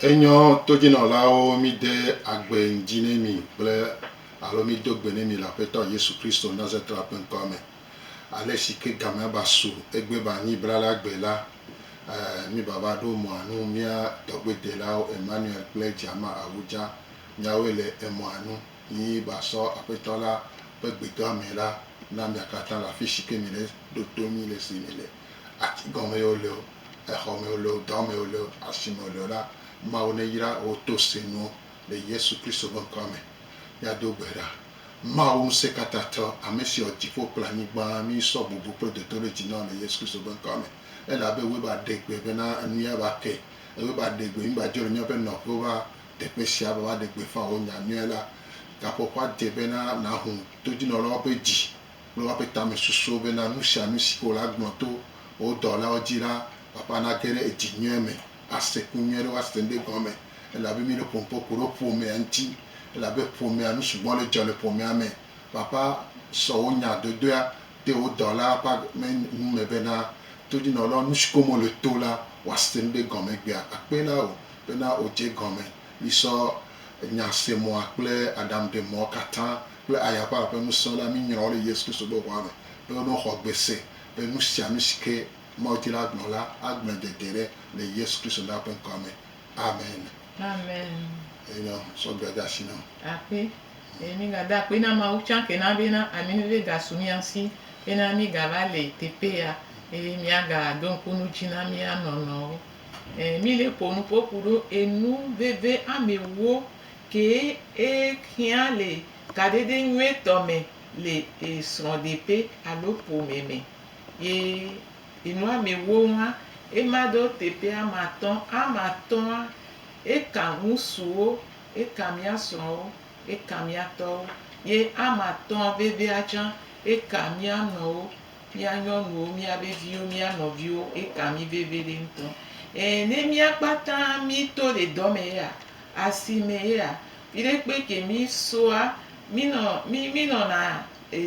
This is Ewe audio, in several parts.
Enyɔ todjinɔlawo mí de agbe ŋdji ne mí kple alo mí do gbe ne mí le Aƒetɔ Yesu Kristo Nazatrtla ƒe ŋkɔa me. Ale si ke gamea ba su egbe ba nyi brala gbe la, mí ba va ɖo mɔa nu mía tɔgbe delawo Emmanuel kple Djama Awudja, miawoe le emɔa nu. Yi ba sɔ Aƒetɔ la ƒe gbedɔa me la na mia katã le afi si ke mile ɖo to mí le esi mile, ati gɔme ye wole o, exɔ me wole o, dɔ me wole o, asi me wole o la, Mawu neyra wò to sẽnuwo le Yesu Kristo ƒe ŋkɔa me. Míado gbe ɖa. Mawu Ŋusẽkatãtɔ, ame si wɔ dziƒo kple anyigba, mí sɔ bubu kple dodoɖedzi na wò le Yesu Kristo ƒe ŋkɔa me, elabe wòe ba ɖe gbe bena enu ya va ke, ewòe ba ɖe gbe mí ba dzo le míaƒe nɔƒewo va teƒe sia be woaɖe gbeƒã wò nya nyuie la. Gaƒoƒoa dze be na nàho todzinɔlawo ƒe dzi kple woƒe tamesusuwo bena nu sia nu si ke wòle agblɔ to wò dɔlawo dzi la ƒaƒã nage ɖe edzi nyuie me, ase ku nyuie ɖe woase ŋɖe gɔme, elabe míɖo ƒonuƒo ku ɖe ƒomea ŋuti, elabe ƒomea, nu sugbɔ le dzɔ le ƒomea me. Ƒaƒã sɔ wò nya dodoea de wò dɔlaa ƒe ame nu me bena todzinɔlawo nu si ke wome le to la, wòase ŋɖe gɔme egbea akpee na wò Bena wòdze gɔme. Misɔ nya se mɔa kple aɖaŋu ɖe mɔa katã kple aya ƒe aƒe ŋusẽ la minyrɔ wo le Yesu Kristo ƒe ʋɔa me be wono xɔ gbe se be nu sia nu si ke Mawu di la gblɔ la agblɔe dede ɖe le Yesu Kristo la ƒe ŋkɔa me. Amen. Amen. Eye nɔ sɔ gbea de asi nɔ. Akpe. Eye mi ga da akpe na Mawu tsã ke na be na ami veve ga su mia si be na mi ga va le teƒe ya eye mia ga do ŋku nu dzi na mia nɔ nɔwo. E mi le ƒo nu ƒo ku ɖo enu veve ame wo ke e xea le kaɖeɖe nyuietɔ me le e srɔ̃ɖeƒe alo ƒome me. Ye enu ame wo ŋua, e ma ɖo teƒe ame atɔ̃. Ame atɔ̃a, e ka ŋusuwo, e ka mía srɔ̃wo, e ka mía tɔwo. Ye ame atɔ̃a vevea tsã, e ka mía nɔwo. Mía nyɔnuwo, mía be viwo, mía nɔviwo, eka mí veviɖe ŋutɔ. Eye ne mía kpata mí to ɖe dɔ me yea, asi me yea, viɖe kpe ke mí soa, mí nɔ, mí, mí nɔna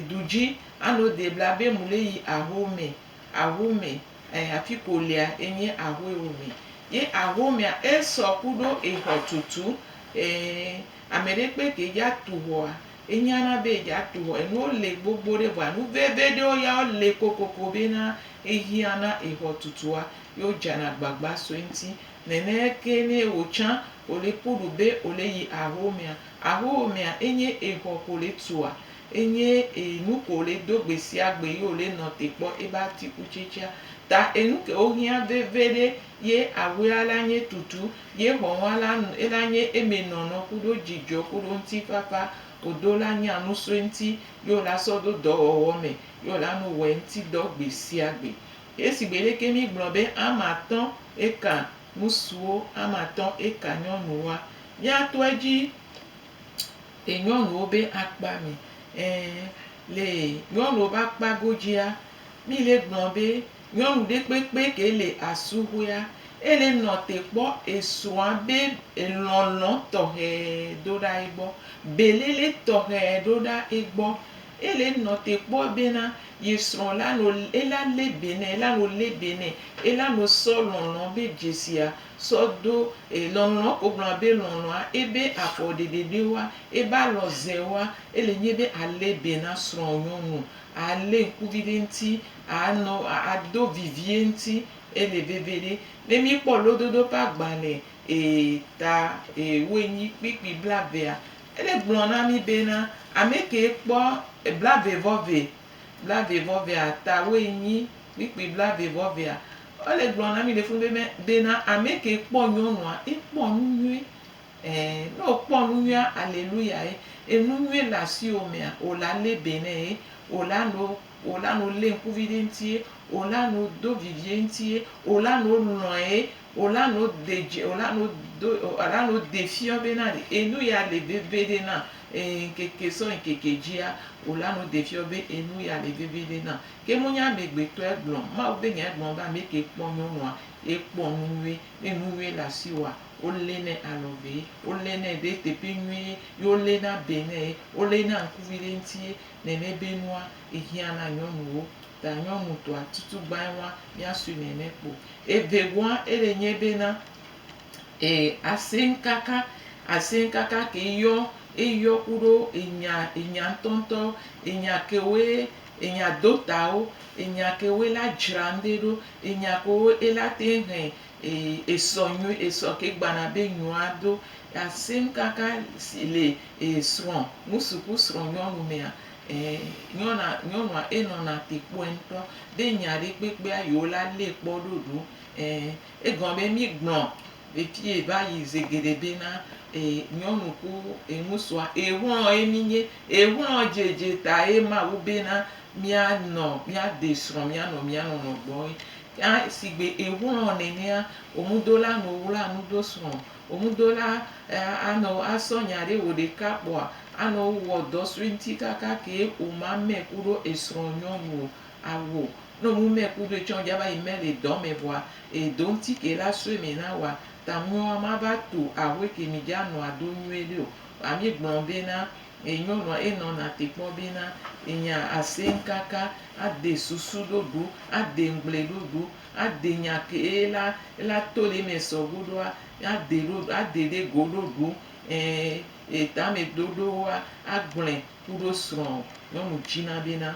du dzi ano de bla be mu le yi aho me, aho me, ɛɛ afi ke wò lea enye aho ye wò me. Ye aho mea, esɔ kuɖo exɔ tutu. Ɛɛ, ameɖe kpe ke dza tu xɔa, Enyana be yea to hɔ. Enuwo le gbogbo ɖe vɔa nu veve ɖewo ya wo le kokoko be na ehiã na exɔ tutua ye wo dzana gbagba so eŋti. Nene ke ne ewo tsã wo le kpɔ ɖo be wo le yi aho mea. Aho mea enye exɔ ko le tua, enye enu ko le do gbe sia gbe ye wo le nɔ te kpɔ ebe atikutsetsea. Ta enu ke wo hiã veve ɖe Ye awea la nye tutu, ye xɔŋɔa la nu ela nye eme nɔnɔ kuɖo djidjɔ kuɖo ŋtifafa odo la nye anusoe ŋti ye ola sɔ do dɔwɔwɔ me ye ola nu wɔe ŋti dɔ gbesiagbe. Ye sigbe leke mi gblɔ be ame atɔ eka ŋusuwo ame atɔ eka nyɔnuwoa, mia tɔe dji le nyɔnuwo be akpa me, ɛ̃, le nyɔnuwo be akpa godjia, mi le gblɔ be. Nyɔnu ɖe kpekpe ke le asuhɔea, ele nɔ te kpɔ esrɔ̃a be elɔlɔ̃ tɔxɛ do ɖa egbɔ, belele tɔxɛ ɖo ɖa egbɔ. Ele nɔ te kpɔ bena yesrɔ̃ la nɔ ela le be nɛ, ela nɔ le be nɛ, ela nɔ sɔ lɔlɔ̃ be dzesia sɔ do e lɔlɔ̃ ko gblɔna be lɔlɔ̃a ebe afɔ ɖeɖe ɖe woa, ebe alɔ ze woa. Ele nyi be ale be na srɔ̃nyɔnu, ale ŋkuvi ɖe ŋuti. Anɔ ado vivie ŋti ele veve ɖe. Ne mi kpɔ lododo ƒe agbalẽ ee ta ee woe nyi kpikpi blavea, ele gblɔ na mi be na ame ke kpɔ blave vɔ ve, blave vɔ vea ta woe nyi kpikpi blave vɔ vea. Ele gblɔ na mi le funu be be na ame ke kpɔ nyɔnua ekpɔ nu nyuie ɛɛ ne wo kpɔ nu nyuie aleluya ye. Enu nyuie le asiwo mea wo la le be nɛ ye wo la nɔ Wòna nu lée ŋkuvi ɖe eŋuti ye, wòna nu do vivi eŋuti ye, wòna nu lɔ̃e ye, wòna nu de dzi, wòna nu do, wòna nu de fiɔ be na ɖe enu ya le veviɖe nam. Ɛɛ, ŋkeke sɔ ŋkeke dzia, wòna nu de fiɔ be enu ya le veviɖe nam. Ke menye amegbetɔe gblɔ o. Mawu be nyae gblɔ be ame ke kpɔ nyɔnua, ekpɔ nu nyui. Ne nu nyui le asiwòa, wolé nɛ alɔ vee, wolé nɛ ɖe teƒe nyuie ye wolé na be nɛ ye, wolé na ŋkuvi ɖe eŋuti ye. nɛnɛ bé nua ehiã na nyɔnuwo, ta nyɔnu tɔa tutu gbain wa mia sui nɛnɛ kpo. Evegɔa ele nyé bé na e asin kaka, asin kaka ke yɔ eyɔ kuɖo enya enya ŋtɔ ŋtɔ enya kewoe enya do tawo, enya kewoe la djra ŋɖe ɖo, enya kewo ela te ŋ he e esɔ nyui esɔ ke gbana bé nyɔa do. Asin kaka si le. Ee, srɔ̃, ŋusuku srɔ̃nyɔnu mea, e, nyɔna, nyɔnua enɔna te kpɔe ŋutɔ. Ɖe nya ɖe kpekpea yewo la lée kpɔ ɖo ɖo. E, egɔme be mí gblɔ le fiye va yi ze geɖe be na, e, nyɔnu ku e, ŋusua, e, xlɔ̃ ye mí nye. E, xlɔ̃ dzedze ta ye Mawu be na mía nɔ, mía de srɔ̃ mía nɔ mía nɔnɔ gbɔ ye. Kea, sigbe e xlɔ̃ nenea, o ŋudola nɔ wla nu do srɔ̃. Wò ŋudola anɔ wò asɔ nya ɖe wò ɖeka kpɔa anɔ wò wɔ dɔ sue ŋti kaka ke wò ma mɛ kuɖo esrɔ nyɔnu o awo nɔ nu mɛ kuɖo etsɔ ŋdja va yi mɛ le dɔ mɛ vɔa edo ŋti ke la sue mɛ na wa ta ŋuiɔ ama va to ahue ke mi dja nɔa do nyuie ɖe o wa mi gblɔ be na enyɔnua enɔ na te kpɔ be na enya aseŋ kaka ade susu ɖoɖo ade ŋgble ɖoɖo. Ade nya ke eye la ela to le eme sɔ go ɖoa, ade ɖo ade ɖe go ɖo ɖu e e tame ɖoɖowoa agblɔe ku ɖo srɔ̃ nyɔnu dzina be na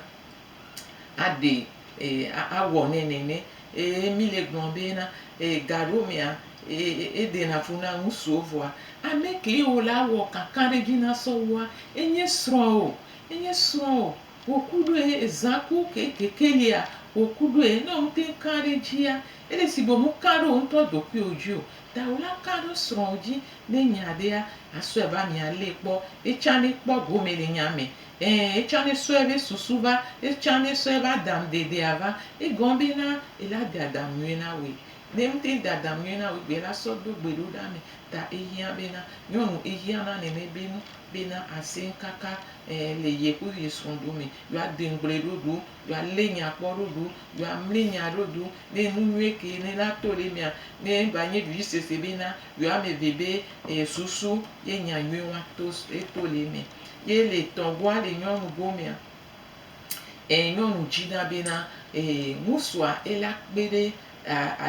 aɖe e awɔ nɛ nene. Eye mi le gblɔ be na e gaɖewo mea e eɖe na fu na ŋusuwo vɔa ameke wo la wɔ kakaɖedzi na sɔ wua enye srɔ̃ o enye srɔ̃ o Wò ku ɖoe zã ku kekekelia wò ku ɖoe ne wò teŋ ka ɖe dzia ele si be mu ka ɖe wò ŋutɔ ɖokuiwò dzi o ta wòla ka ɖe srɔ̃wò dzi ne nya ɖea asɔe va mia lee kpɔ etsã ne kpɔ gome le nya me ẽ etsã ne sɔe be susu va etsã ne sɔe be adam ɖeɖea va egɔme be na ela de adam nyuie na wòe ne mu teŋ de adam nyuie na wòe gbea ela sɔ do gbe ɖo ɖa me ta ehiã be na nyɔnu ehiã na nene be nu. bena asẽ kaka ɛɛ le ye ku yi srɔ̃ ɖo me, yo a de ŋgble ɖo ɖo, yo a le nya kpɔ ɖo ɖo, yo a mli nya ɖo ɖo, ne enu nyuie ke ne la to le mea, ne va nye ɖui sese bena yo a me ve be e susu ye nya nyuie wa to e to le me. Ye le tɔ goa le nyɔnu go mea, e nyɔnu dzi na bena e ŋusua e la kpe ɖe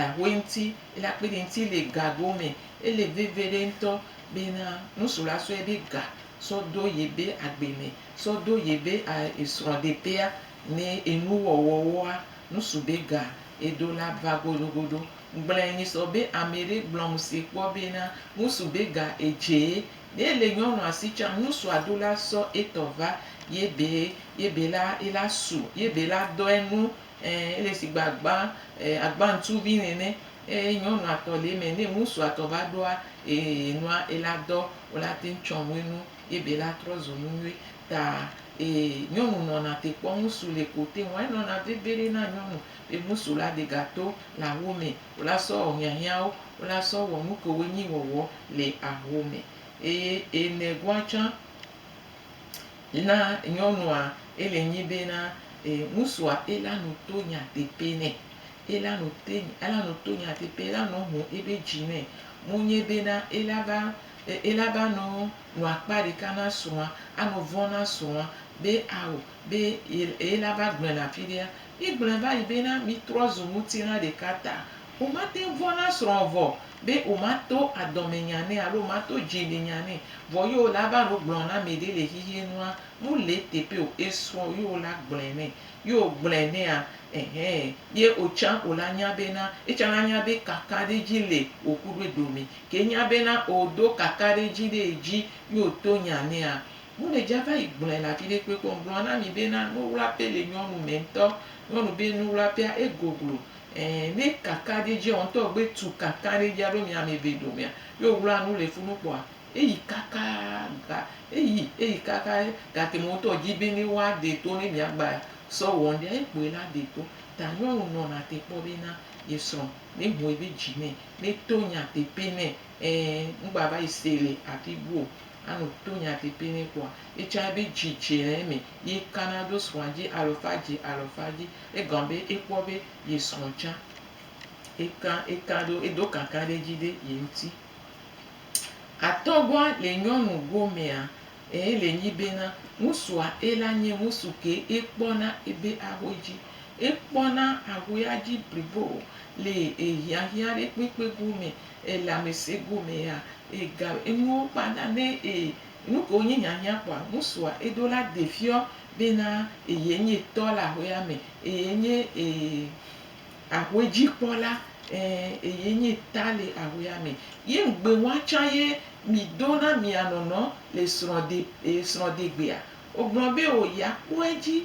Ahwe ŋti ele akpede ŋti le gago me. Ele veviɖe ŋtɔ bena ŋsu la sɔe be ga sɔ do yebe agbe me, sɔ do yebe esrɔɖeƒea me enu wɔwɔwoa. Ŋsu be ga edo la va godogodo. Ŋgblɔɛ nyi sɔ be ameɖe gblɔ ŋse kpɔ bena ŋsu be ga edzee. Ne ele nyɔnua si tsa, ŋsua do la sɔ etɔ va yebe yebe la ela su yebe la dɔɛ nu Ɛɛ, ele shigbe agba, e, agba ŋutsuvi nɛnɛ. Eye nyɔnu atɔ le eme. Ne ŋutsu atɔ va ɖoa, e, enua, ela dɔ, wola teŋ tsɔ ŋue nu ye be la trɔ zu nu nyuie. Ta, e, nyɔnu nɔna te kpɔ ŋutsu le ko te ŋua. Enɔna veviɖe na nyɔnu be ŋutsu la de ga to le aho me. Wola sɔ wɔ hiahiãwo. Wola sɔ wɔ nu kewo nyi wɔwɔ le aho me. Eye enɛ goa tsã, Yina nyɔnua ele nyi be na e ŋusua ela nu to nya tepe nɛ. Ela nu te ela nu to nya tepe ela nɔ ŋu ebe dzi nɛ. Mu nye be na ela ba e ela ba nɔ nu akpa ɖeka na srɔ̃a anɔ vɔ̃ na srɔ̃a be ao be e ela ba gblɔe le afi ɖea. Mi gblɔe va yi be na mi trɔ zu ŋutilã ɖeka ta. Womate ŋu vɔ̃ na srɔ̃a vɔ be womato adɔmenya nɛ alo womato dzimenya nɛ vɔ ye wòle ava nu gblɔm na ame ɖe le xexeɛ nua, nu le eteƒe o. Esrɔ̃ ye wòle agblɔɛ nɛ. Ye wògblɔɛ nɛa? Ɛhɛ. Ye wòtsa wòle anya bena, etsa anya be kakaɖedzi le wò kuɖoe dome. Ke enya bena oo do kakaɖedzi ɖe edzi ye wòto nya nɛa, mele dza va yi gblɔɛ le afi ɖe kpekpe o. Ŋgblɔ na mi bena nuwlaƒe le nyɔnu me ŋutɔ. Nyɔnu be nuwlaƒea, egoglo. Ɛɛ, ne kakaɖi dze ɔ, ŋtɔ gbe tu kakaɖi dja ɖo mia meve domea, yi o wla nu le funu kpɔa, eyi kaka ga, eyi, eyi kaka gake mɔ ŋtɔ dji be ne woa ɖe to ne mia gba sɔ wɔ ŋɖea, ye kpoe la ɖe to. Ta nyɔnu nɔna te kpɔ be na ye srɔ ne ho ebe dji nɛ, ne to nya tepe nɛ. Ɛɛ, ŋgba va yi se le afi bu o. Ano to nya tepe nɛ kpɔa, etsa ebe dji dje le eme, ye kana ɖo srɔa dji alɔfa dji alɔfa dji. Egɔme be ekpɔ be ye srɔ̃ tsã eka eka ɖo edo kaka ɖe edzi ɖe ye ŋuti. Atɔgɔa le nyɔnu gomea ee le nyi bena ŋusua ela nye ŋusu ke ekpɔna ebe ahuɛ dzi. Ekpɔna ahuɛa dzi blibo le ehiahiã ɖe kpekpe gome, elamese gomea, ega enuwo kpana ne e Nuke wonye hiahiã kpɔa? Ŋutsua eɖo la de fiɔ bena eye nye tɔ le aƒea me, eye nye aƒe dzikpɔla, ẽ, eye nye ta le aƒea me. Ye ŋugbe wa tsã ye mido na mia nɔnɔ le srɔ̃ɖe, srɔ̃ɖegbea? Wogblɔ be, O, yeakpɔ edzi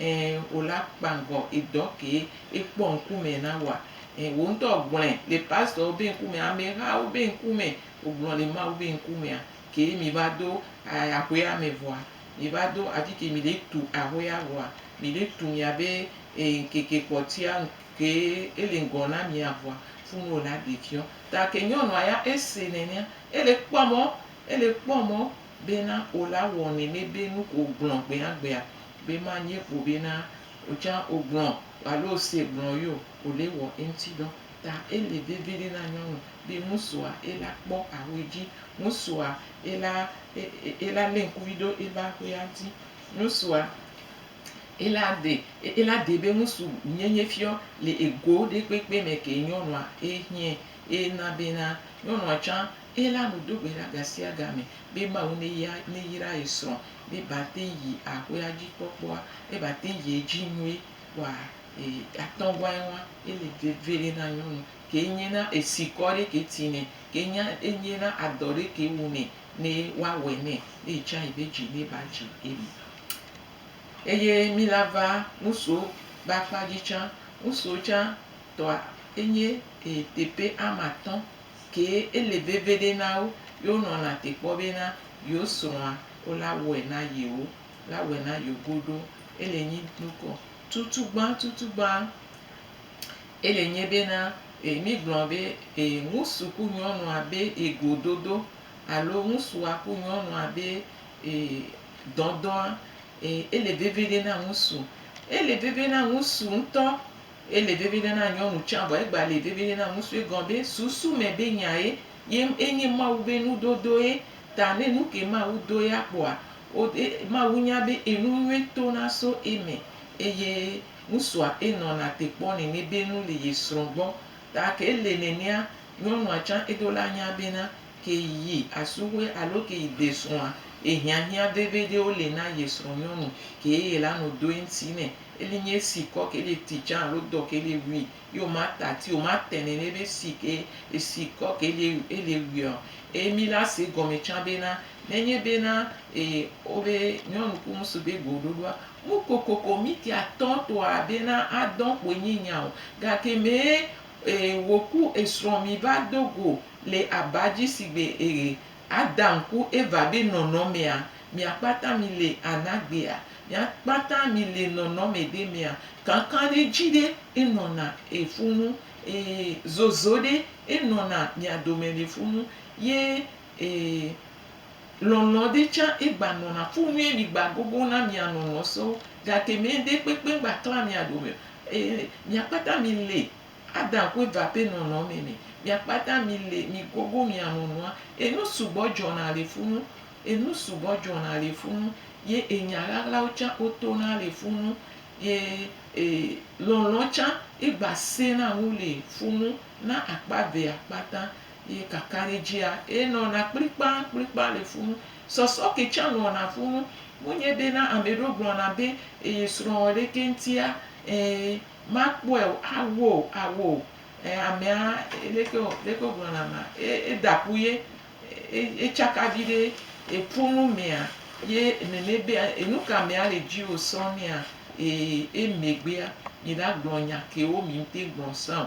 Ẽ, wò la kpangɔ edɔ kee ekpɔ ŋkumɛ na wòa? Ẽ, wò ŋutɔ gblɔɛ le pastorwo be ŋkumɛ, amehawo be ŋkumɛ, wògblɔ le Mawu be ŋkumɛa kee mìva do aƒea me vɔa? Mìva do afike mìle tu aƒea vɔa? Mìle tu mìabe ŋkeke kpɔtɔea kee ele ŋgɔ na mìa vɔa? Funu wò la ɖe fiɔ. Ta ke nyɔnua ya ese nɛnɛa. Ele kpɔ mɔ, ele kpɔ mɔ, bena o la wɔ nɛnɛ be nu ko ogblɔ gbeagbea be ma nye ƒo bena otsã ogblɔ alo ose gblɔ yo o le wɔ eŋti dɔ. Ta ele veviɖe na nyɔnu be ŋusua ela kpɔ ahue dzi. Ŋusua ela ela le ŋkuvi ɖo ebe ahue adi. Ŋusua ela de ela de be ŋusu nyenye fiɔ le ego ɖe kpekpe me ke nyɔnua ehiɛ ena bena nyɔnua tsã Eye la nu do gbe ɖa gasiagame be Mawu ne ya ne yra ye srɔ̃ be ba teŋ yi aƒea dzi kpɔkpɔa, ne ba teŋ yi edzi nue wa e atɔ̃ wa eŋua. Ele veve ɖe na nyɔnu ke nye na esikɔ ɖe ke ti nɛ ke nya enye na adɔ ɖe ke wu nɛ ne wa wɛ nɛ ne etsa yi be dzi ne ba dzi eme. Eye mi la va ŋusuwo be akpa dzi tsã. Ŋusuwo tsã tɔa enye e teƒe amatɔ̃ Ke ele veveɖe na wo be wonɔ lã te kpɔ be na yio srɔ̃a wo la wɔe na yio la wɔe na yio goɖo. Ele nyi nukɔ tutugbã tutugbã ele nye be na e mi gblɔ be e ŋusu ku nyɔnua be e gododo alo ŋusua ku nyɔnua be e dɔdɔa e ele veveɖe na ŋusu. Ele veve na ŋusu ŋutɔ. Ele veviɖe na nyɔnu tsã vɔ egba le veviɖe na ŋusu egɔn be susu me be nyae ye enye Mawu be nudodo ye ta ne nuke Mawu do ye akpɔa wo e Mawu nya be enu nyuie to na so eme eye ŋusua enɔ na te kpɔ nene be nu le ye srɔ̃ gbɔ ta ke ele nenea nyɔnua tsã edo la nya be na Ke yi asũxoe alo ke yi desũa, ehiahiã veveɖewo le na ye srɔ̃nyɔnu, ke eye la nɔ do eŋti nɛ. Eli nye esi kɔ ke le ti can alo dɔ ke le wui, yi o ma ta ti o ma tɛ nɛ nɛ be si ke esi kɔ ke le ele wuia o. Eye mi la se gɔme can be na, ne nye be na e o be nyɔnu ku ŋsu be go ɖoɖoa, mu kokoko mi ti atɔtɔa be na a dɔn kpoe nye nya o, gake me Ee, wòku esrɔ̃ miva do go le aba dzi sigbe ee, Adam ku Eva be nɔnɔmea, miakpata mile anagbea, miakpata mile nɔnɔme ɖe mea, kankan ɖe dzi ɖe enɔna ee funu, ee, zozo ɖe enɔna mia dome le funu, ye Ee, lɔlɔ̃ ɖe tsã egba nɔna fu nyuie mi gba gogo na mia lɔlɔ̃ so gake me ɖe kpekpe gba kla mia dome o. Ee, mia kpata mi le Adam ku Eva ƒe nɔnɔme me. Mia kpata mi le mi gogo mia lɔlɔ̃a. Enu sugbɔ dzɔna le fu nu. Enu sugbɔ dzɔna le fu nu ye enya ɣaɣlawo tsã wo tona le fu nu ye e lɔlɔ̃ tsã egba sena nu le fu nu na akpa evea kpata. Ye kakaɖedzia, ye nɔna kplikpakplikpa le funu. Sɔsɔ ke tsã nɔna funu. Menye bena ame ɖewo gblɔna be, Eye srɔ̃wɔ ɖekɛ ŋutia? Ẽ, makpɔe o. Awɔ o, awɔ o. Ẽ, amea, leke wò, leke wogblɔna amea? E, eda ƒu ye. E, etsaka viɖe. Eƒu nu mea ye nene be, e, nu ka amea le dziwò sɔŋ nɛa? Eye emegbea, mi la gblɔ nya kewo mi ŋutɛ gblɔ sã o.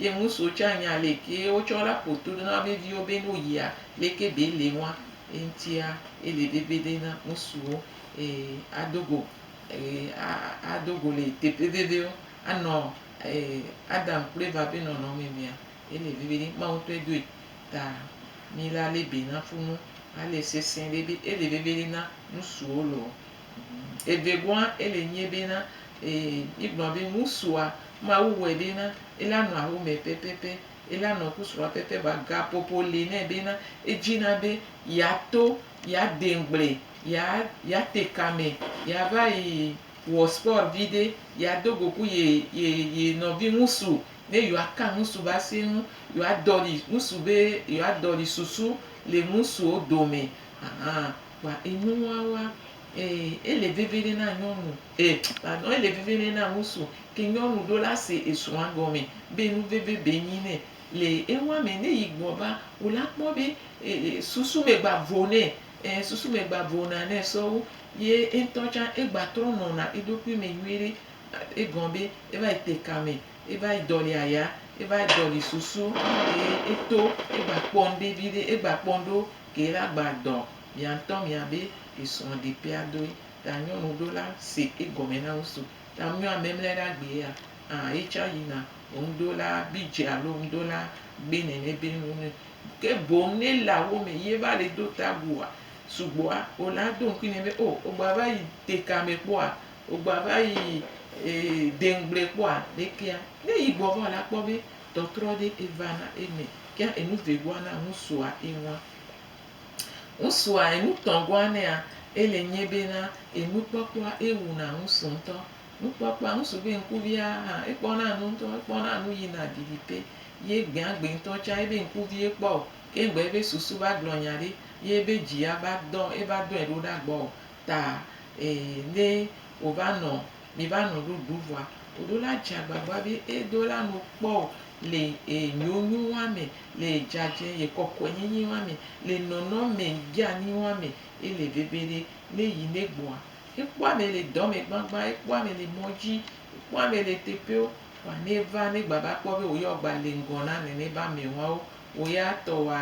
Ye ŋusuwo tsɛ anya aleke wotsɔ la ƒo to ɖo na wobe viwo be ne woyia, aleke be ele wɔa. Eŋutia, ele be be ɖe na ŋusuwo ado go ado go le teƒe veviwo anɔ Adam kple Eva ƒe nɔnɔme mea, ele be be ɖe. Mawu ŋutɔe doe. Ta mí la lé be na ƒunu ale sesẽ ɖe be ele be be ɖe na ŋusuwo loo. Evegɔa, ele nyi bena, ee, mígblɔ be ŋusua, Mawu wɔe bena ela nɔ awu me pɛpɛpɛ, ela nɔ ku srɔ̃a pɛpɛpɛ, vɔa gaƒoƒo li nɛ bena edzina be yeato, yeade ŋugble, yea, yeate kame, yeava yi wɔ spɔr viɖe, yeado go ku ye, ye, ye nɔvi ŋusu, ne yewoaka ŋusu be ase ŋu, yewoadɔli ŋusu be, yewoadɔli susu le ŋusuwo dome. Ahan. Kpa enuwawa, e, ele veviɖe na nyɔnu, e, pardon, ele veviɖe na ŋusu, ke nyɔnu ɖo la se esrɔ̃a gɔme be nu veve be nyi nɛ. Le eŋua me, ne yi gbɔ va, wo la kpɔ be, e, e, susu me gba vo nɛ, e, susu me gba vona nɛ sɔwu, ye eŋtɔ tsã egba trɔ nɔna eɖokui me nyuiɖe, egɔ be eva yi te ka me. Eva yi dɔli aya, eva yi dɔli susu ke eto egba kpɔ ŋɖe viɖe, egba kpɔ ŋɖewo ke la gba dɔ mia ŋtɔ mia be esrɔ ɖe pea doe. Ta nyɔnu ɖo la se egɔme na wo so. Ta mio ame mle ɖa gbe ya a etsa yi na ŋɖo la bi dze alo ŋɖo la gbe nɛnɛ be nu nɛ. Ke boŋ ne la wo me ye va le do ta gu a sugbɔa o la do ŋkui nɛ be o ogba va yi te ka me kpɔ a. Wogbava yi deŋgble kpɔa ɖe kea ne yi gbɔ va la kpɔ be tɔtrɔ ɖe eva na eme kea enu vegua na ŋusua ewa. Ŋusua enu tɔgua nea ele nye be na enu kpɔkpɔa ewu na ŋusu ŋutɔ. Nu kpɔkpɔa ŋusu be ŋkuvia hã ekpɔ na nu ŋutɔ ekpɔ na nu yi na ɖiɖi te ye gbea gbe ŋutɔ tsa ebe ŋkuvi ekpɔ o ke ŋgbe ebe susu va gblɔ nya ɖe ye ebe dzi ya va dɔ eva dɔe ɖo ɖa gbɔ o ta eye ne wova nɔ mi va nɔ ɖo ɖu vɔa oɖo la dza gbagba be edo la no kpɔ o le enyo nyo wa me le dzadze ye kɔkɔe nyinyi wa me le nɔnɔ me dzeani wa me ele veve ɖe ne yi ne gbɔa ekpɔ ame le dɔ me gbagba ekpɔ ame le mɔ dzi ekpɔ ame le teƒeo wa ne va ne gba va kpɔ be wo ya wo gba le ŋgɔ na nene ba me wawo wo ya tɔ wa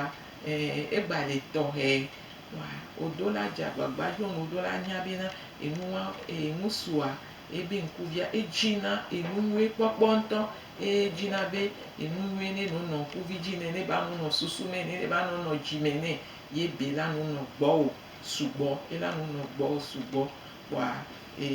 e egba le tɔxɛ Wa odo la dja gbagba djo ŋ odo la nya bena enu wa enu sua ebe ŋku via edji na enu nyuie kpɔkpɔ ŋtɔ eye edji na be enu nyuie ne no nɔ ŋku vi dji nɛ ne ba no nɔ susu mɛ nɛ ne ba no nɔ dji mɛ nɛ ye ebe la no nɔ gbɔwo sugbɔ ela no nɔ gbɔwo sugbɔ wa e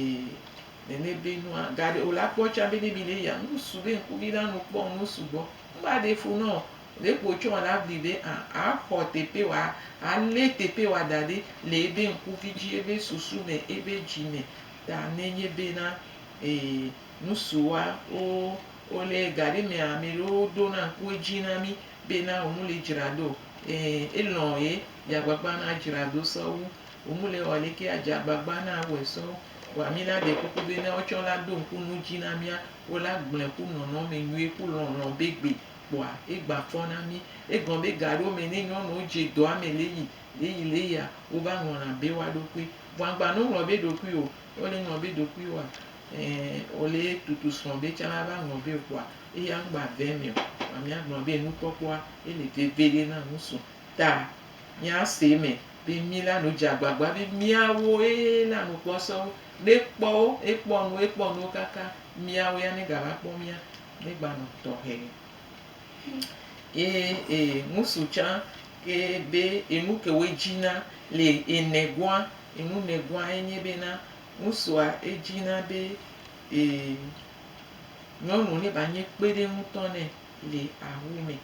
nɛnɛ be nua gaɖe ola kpɔ tsa be ne mi le ya ŋku su be ŋku vi la no kpɔ ŋu sugbɔ ŋgba ɖe fo nɔo. Ɖe kpo tsɔ la vi ɖe a a xɔ teƒe wa a lé teƒe wa da ɖe le ebe ŋkuvi dzi ebe susu me ebe dzi me ta ne nye be na e nusu wa wo wo le ga ɖe me a me ɖe wo ɖo na ŋku edzi na mi be na wo mu le dzra do e e lɔ ye dza gbagba na dzra do sɔ wu wo mu le wɔ le ke a dza gbagba na wɔ sɔ wu wa mi la de kuku be na wo tsɔ la do ŋku nu dzi na mia wo la gble ku nɔnɔ me nyuie ku lɔlɔ be gbe. kpoa ye gba fɔ na mi. Egɔn be gaɖewo me ne nyɔnuwo dze dɔa me leyi leyi leyia, wo va ŋlɔna be woa ɖokui. Vɔ agba no ŋlɔ be ɖokui o. Ne wole ŋlɔ be ɖokui woa, ɛɛ, wole tutu srɔ̃ be tsã ava ŋlɔ be o kpoa eya ŋgba ve eme o. Vɔa mia gblɔ be enu kpɔkpɔa ye le veveɖe na ŋusu. Ta mia se eme be mi la nu dze agbagba be mia wo ye la nu kpɔsɔwo. Ne ekpɔwo, ekpɔ nuwo, ekpɔ nuwo kaka mia wo ya ne ga va kpɔ mia. Mígbanɔ tɔxɛ. Ye e ŋsu tsã ke be enu ke woe dzina le enegua, enu negua enye be na ŋsua edzina be e nyɔnu ne ba nye kpeɖeŋutɔ nɛ le awu me.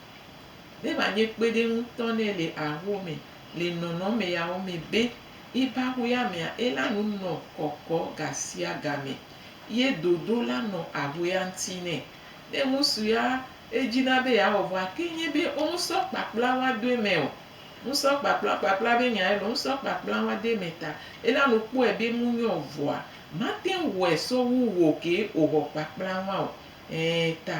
Ne ba nye kpeɖeŋutɔ nɛ le awu me le nɔnɔme yawo me be, eba ƒuya mea, ela nu nɔ kɔkɔ gasiaga me. ye dodo la nɔ ahuea ŋuti nɛ. Ne ŋutsu ya edzina be yeawɔ vɔa, ke nye be womusɔ kpakpla wa do eme o. Musɔ kpakpla, kpakpla be nyae loo, musɔ kpakpla wa do eme ta ela nu kpɔe be nu nyo vɔa, mate ŋu wɔe sɔ wu wò kee wòwɔ kpakpla wa o. Ẽ, ta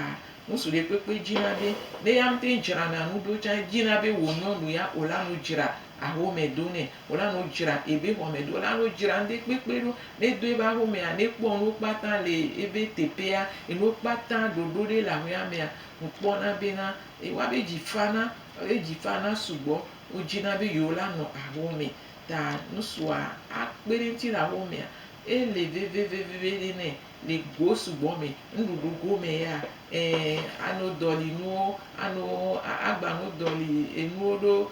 ŋutsu ɖekpekpe dzina be ne ya ŋutɔ dzrana nu ɖo tsã, edzina be wò nyɔnu ya wòla nu dzra ahome do nɛ. Wòla no dzra ebe xɔme ɖo. Wòla no dzra ŋde kpekpe ɖo. Ne do ebe axomea, ne kpɔ nuwo kpata le ebe teƒea, enuwo kpata ɖoɖo ɖe le axoea mea, ŋu kpɔna bena, ewa be dzi fana, ewa be dzi fana sugbɔ. Wo dzi na be yewo la nɔ axome. Ta ŋusua a kpe ɖe ŋuti le axomea. Ele veve veve ɖe nɛ le go sugbɔ me. Nuɖuɖu go me ya, ɛ, ano dɔli nuwo, ano, a gba no dɔli enuwo ɖo.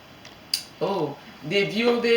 Oh, ɖeviwo be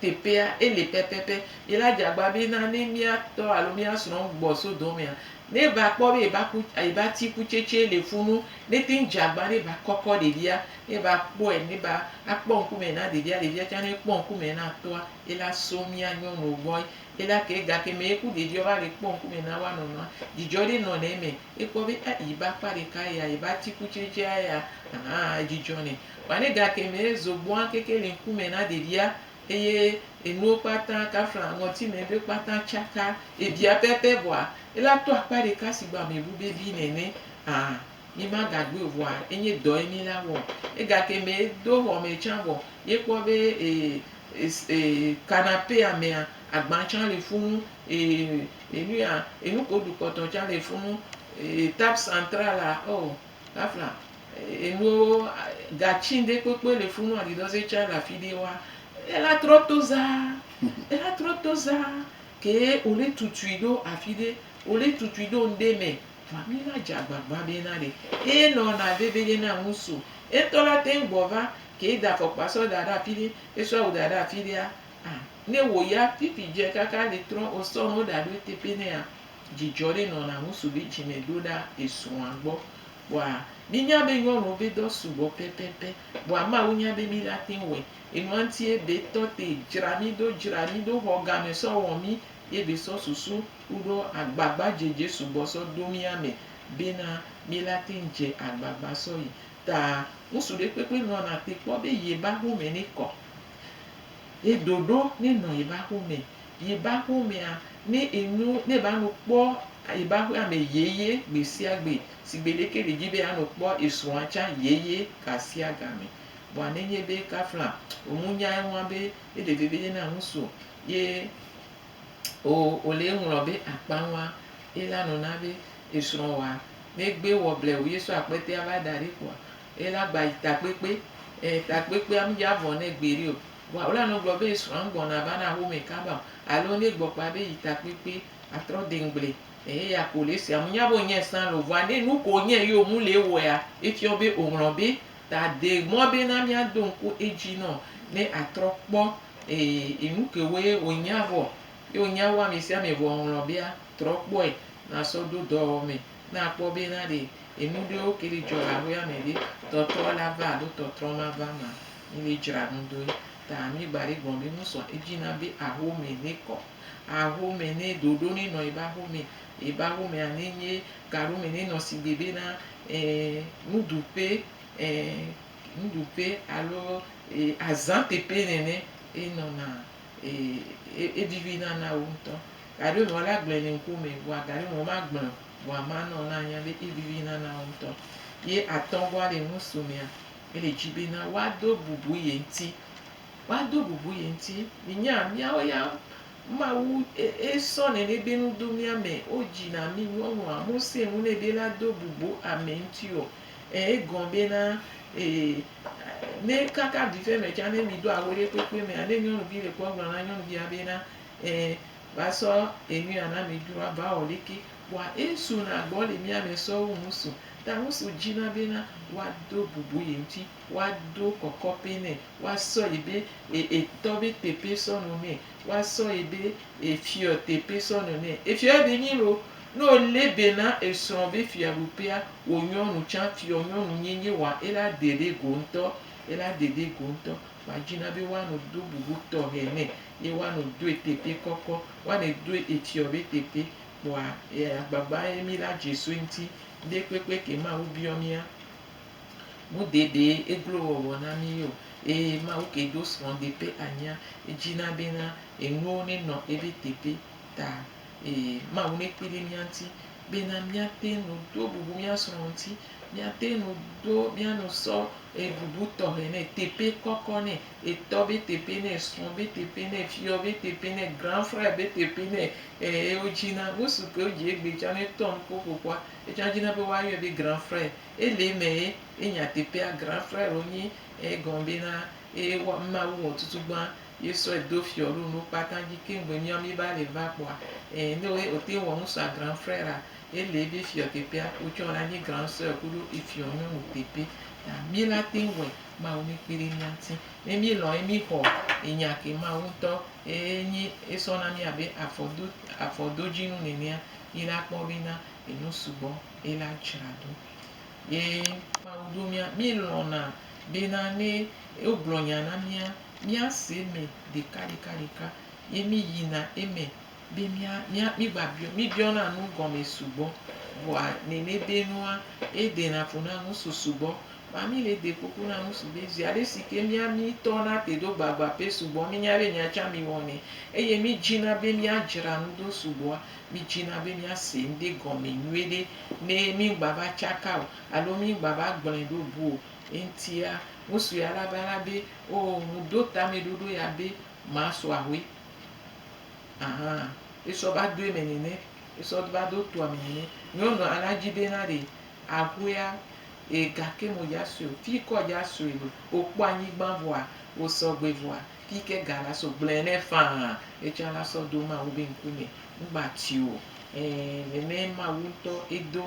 teƒea ele pɛpɛpɛ. Ye la dze agba be na ne mía tɔ alo mía srɔ̃ gbɔ so dɔ mea, ne va kpɔ be eba ku eba ti kutsetse le fu nu, ne te ŋu dze agba ne va kɔkɔ ɖevia, ne va kpɔe ne va akpɔ ŋkume na ɖevia, ɖevia tsɛ ne kpɔ ŋkume na tɔa, ye la so mía nyɔnuwo gbɔe. Ye la ke gake me ku ɖevia va le kpɔ ŋkume na woa nɔnɔa, dzidzɔ ɖe nɔna eme. Ekpɔ be a yi be akpa ɖeka ya yi be atikutsetsea ya hã edzidzɔ nɛ. Vɔa ne gake me zo gbɔa keke le ŋkume na ɖevia eye enuwo kpata kafla ŋɔti me be kpata tsaka ebia pɛpɛ vɔa ela to akpa ɖeka si gbɔ ame ŋu vevi nene a mi ma gagbɔe o vɔa enye dɔ ye mi la wɔ. Egake me do xɔ me tsã vɔ ye kpɔ be e e e canapea mea agba tsã le funu. Ee, enuya, enu ke woɖu kpɔtɔ tsã le funu. Ee, table centrale, oh, afla, enuwo, gatsi ɖe kpekpe le funu, aɖidɔze tsã le afi ɖe wa. Ela trɔ to zaa, ela trɔ to zaa ke wole tutui ɖo afi ɖe, wole tutui ɖo ŋɖe me. Vɔa mi la dze agbagba be na ɖe eye nɔna veve ye na ŋu so. Ye ŋtɔ la teŋ gbɔ va ke da fɔkpa sɔ da ɖe afi ɖe, esɔ awu da ɖe afi ɖea, ah, Ne wò ya fifi dze kaka li trɔ o sɔ no ɖa ɖo eteƒe nɛa, dzidzɔ li nɔ na ŋusu be dzime ɖo ɖa esrɔa gbɔ. Vɔa mi nya be nyɔnuwo be dɔ sugbɔ pɛpɛpɛ. Vɔa Mawu nya be mi la teŋ wɔɛ. Enua ŋti ye be tɔ te dzra mi ɖo, dzra mi ɖo xɔ game sɔ wɔ mi ye be sɔ susu kuɖo agbagba dzedze sugbɔ sɔ do mia me be na mi la teŋ dze agbagba sɔ yi ta. Ŋusu ɖe kpekpe nɔna te kpɔ be ye ba home ne kɔ. Yi ɖoɖo ni nɔ yi ba xomɛ. Yi ba xomɛa, ni i nu ni ba nu kpɔ yi ba xue amɛ yeye gbesiagbe. Sigbe ɖe ke ɖe dji be a nu kpɔ i srɔa tsa yeye gasiagamɛ. Vɔa ne nye be kafla o mu nya eŋua be e ɖe vevede na ŋusu ye o o le eŋlɔ be akpa ŋua, e la nɔna be esrɔwa ne gbe wɔ blewuye so akpɛtɛa va daɖi kpoa, Ye la gba yi takpekpe. E, takpekpea mdze avɔ nɛ gbeɖe o. Vɔa wole nɔ gblɔ be srɔ̃a mgbɔna va na home kaba o. Alo ne egbɔ kpa be yi takpekpe atrɔ de ŋgble. E, eya ko le sia. Mnya be wonyae sã lo. Vɔa ne nuke wonyae ye womu le ewɔea, efiɔ be woŋlɔ be ta de mɔ be na mia do ŋku edzi nɔ ne atrɔ kpɔ e, enukewoe wonya vɔ. Ye wonya wu amesiame vɔ woŋlɔ bea, trɔ kpɔe na sɔ do dɔwɔwɔ me. Ne akpɔ be na ɖe enu ɖewo ke li dzɔ le aƒea me ɖe, tɔtrɔ la va alo tɔtrɔ ma va ma, mi le dzra nu doe. Ta mi gba ɖe gblɔ be nu sɔ edzi na be aho me ne kɔ. Aho me ne ɖoɖo ne nɔ ebe aho me. Ebe aho mea ne nye gaɖo me ne nɔ si gbe be na eh, nuɖuƒe eh, nuɖuƒe alo eh, azã teƒe nene ye nɔna. Eye evivi nana wò ŋutɔ. Gaɖe mɔ la gblẽ nye ŋku me vɔa gaɖe mɔ ma gblẽ vɔa ma nɔ na nya be evivi nana wò ŋutɔ. Ye atɔ gɔa le ŋusu mea ele dzi be na wa do bubu ye ŋti. Wa do bubu ye ŋti. Mi nya miawo ya Mawu esɔ nene be nu do mia me. Wo dzi na mi nyɔnua mu se nu ne be la do bubu ame ŋti o. E gɔn be na ee. Ne kaka vive me tsa ne mi do awu ɖe kpekpe mea ne nyɔnuvi ɖe kpɔ gblɔna nyɔnuvia be na ee va sɔ enuya na mi dro ava wɔ ɖeke wa e so na gbɔ le mia me sɔ wu ŋusu ta ŋusu dzi na be na wa do bubu ye ŋuti wa do kɔkɔ ƒe nɛ wa sɔ yi be e etɔ be teƒe sɔ no nɛ Wa sɔ yi be efiɔ tepe sɔ nɔ nɛ. Efiɔ de nyi lo. Ne wo le be na esrɔ be fiaɖuƒea, wo nyɔnu tsan fiɔ nyɔnu nyi nyi wa ela de ɖe go ŋtɔ. Ela de ɖe go ŋtɔ. Wa dzi na be wa nɔ do bubu tɔxe nɛ. Ye wa nɔ doe tepe kɔkɔ. Wa nɛ doe efiɔ be tepe. Kpɔa, e agbagba ye mi la dze so eŋti. Ŋɖe kpekpe ke Mawu biɔ mia. Wodeɖe eglowɔwɔ na mí o, eye Mawu ke do srɔ̃ de ƒe anyia edzi na bena enuwo nenɔ ebe teƒe ta. Eye Mawu nekpui ɖe mía ŋuti bena míate ŋu do bubu mía srɔ̃ ŋuti. Míate ŋu do, míanu sɔ ebubu tɔxɛ nɛ, teƒe kɔkɔ nɛ, etɔ be teƒe nɛ, esrɔ̃ be teƒe nɛ, efia be teƒe nɛ, grand frère be teƒe nɛ. Eye wodzi na, ŋutsu ke wodzi egbe tsã ne etɔ nuƒoƒoƒua. Etsɔa dzi na be woa yɔe be grand frère. Ele me ye ye nya teƒea grand frère wo nyi eye gɔme be na eye wa ma wu wɔ tutu gbã ye sɔ edo fiɔ ɖo nuwo kpata dzi ke ŋgbe nyɔ mi ba le va kpɔa e ne wo ye o te wɔ nu sɔa grand frère a ele ye be fiɔ teƒea wo tsɔ la nyi grand soeur kuɖo efiɔ nyɔnu teƒe ta mi la te wɔ ma wo mi kpi ɖe mia ŋuti ne mi lɔ ye mi xɔ enya ke ma wo ŋutɔ e nyi esɔ na mi abe afɔ do afɔ do dzi nu nenea ye la kpɔ be na ye nu sugbɔ ye la dzra ɖo. Ye Mawu ɖo mía, mí lɔ̃na be na ne wo gblɔ nya na mía, mía se eme ɖeka ɖeka ɖeka ye mí yina eme be mía, mía, mí gba biɔ, mí biɔna nu gɔme sugbɔ. Vɔa nene de nua, ye dena fu na nu su sugbɔ. Vɔa mí le de kuku na nu su be zeaɖe si ke mía, mí tɔ na te ɖo gbagba pe sugbɔ, mí nya be nya tsã mí wɔnɛ eye mí dzina be mía dzra nu ɖo sugbɔa, Midzina be miase ŋɖe gɔme nyuiɖe ne migbava tsaka o alo migbava gblɔe ɖo bu o. Eŋutia, ŋutsu ya la va la be, Oo, ŋuɖo tameɖoɖo ya be masu ahoe. Aha, esɔ va do eme nene, esɔ va do toa me nene. Nyɔnua la dzi bena ɖe ahoea gake modza sue o. Fi yi ke wòdza sue le, wòkpɔ anyigba vɔa, wòsɔ gbe vɔa, Yi ke ga la sɔ gblẽ nɛ faa, etsã la sɔ do Mawu be ŋkunye, ŋgba tui o. Ẽ, nɛnɛ Mawu ŋutɔ edo